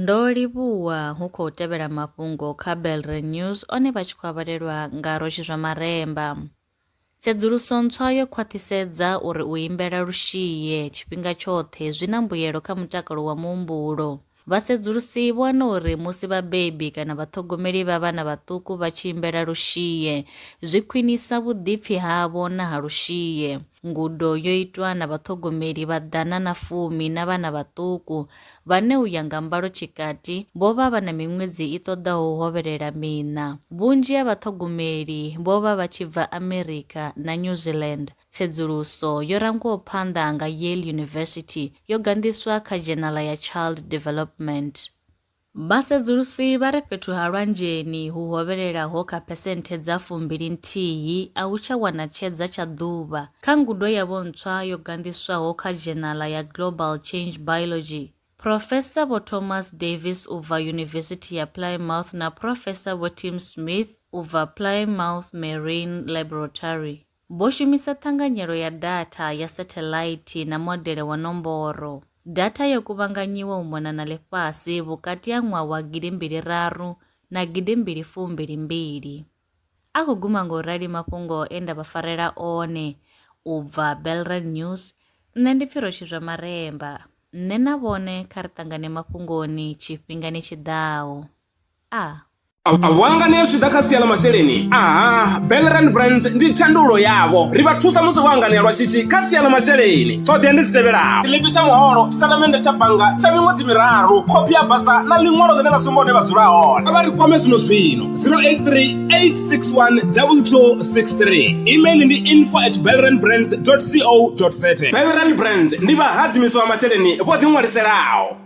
Ndo livhuwa hu khou tevhela mafhungo kha Belre News one vha tshi khou avhalelwa nga Roshi zwa Maremba. Tsedzuluso ntswa yo khwaṱhisedza uri u imbela lushie tshifhinga tshoṱhe zwi na mbuyelo kha mutakalo wa muhumbulo. Vhasedzulusi vho wana uri musi vhabebi kana vhaṱhogomeli vha vhana vhaṱuku vha tshi imbela lushie, zwi khwinisa vhuḓipfi havho na ha lushie. Ngudo yo itwa na vhaṱhogomeli vha ḓana na fumi na vhana vhaṱuku, vhane u ya nga mbalo tshikati vho vha vha na miṅwedzi i ṱoḓaho u hovhelela miṋa. Vhunzhi ha vhaṱhogomeli vho vha vha tshi bva Amerika na New Zealand. Tsedzuluso yo rangwaho phanḓa nga Yale University yo ganḓiswa kha dzhenala ya Child Development. Vhasedzulusi vha ri fhethu ha lwanzheni hu hovhelelaho kha phesenthe dza fumbili nthihi a hu tsha wana tshedza tsha ḓuvha. Kha ngudo yavho ntswa yo ganḓiswaho kha dzhenala ya Global Change Biology, Phrofesa Vho Thomas Davis u bva Yunivesithi ya Plymouth na Phrofesa Vho Tim Smith u bva Plymouth Marine Laboratory, Vho shumisa ṱhanganyelo ya datha ya satheḽaithi na modele wa nomboro. Datha yo kuvhanganyiwa u mona na ḽifhasi vhukati ha ṅwaha wa gidi mbili raru na gidi mbili fu mbili mbili. A khou guma nga u rali mafhungo e nda vha farela one u bva Belrand News, Nṋe ndi pfi Rotshizwa Maremba. Nṋe na vhone kha ri ṱangane mafhungoni tshifhingani tshi ḓaho. a. A vho hanganea zwi tshi ḓa kha sia ḽa masheleni? Aha, Bellerand Brands ndi thandululo yavho. Ri vha thusa musi vho hanganea lwa shishi kha sia ḽa masheleni. Ṱhoḓea ndi dzi tevhelaho. Tshiḽipi tsha muholo, tshitatamennde tsha bannga tsha miṅwedzi miraru, khophi ya basa na ḽiṅwalo ḽine ḽa sumba hune vha dzula hone. Kha vha ri kwame zwino-zwino, 083 861 2263. Email ndi info at bellerandbrands.co.za. Bellerand Brands ndi vhahadzimisi vha masheleni vho ḓiṅwaliselaho.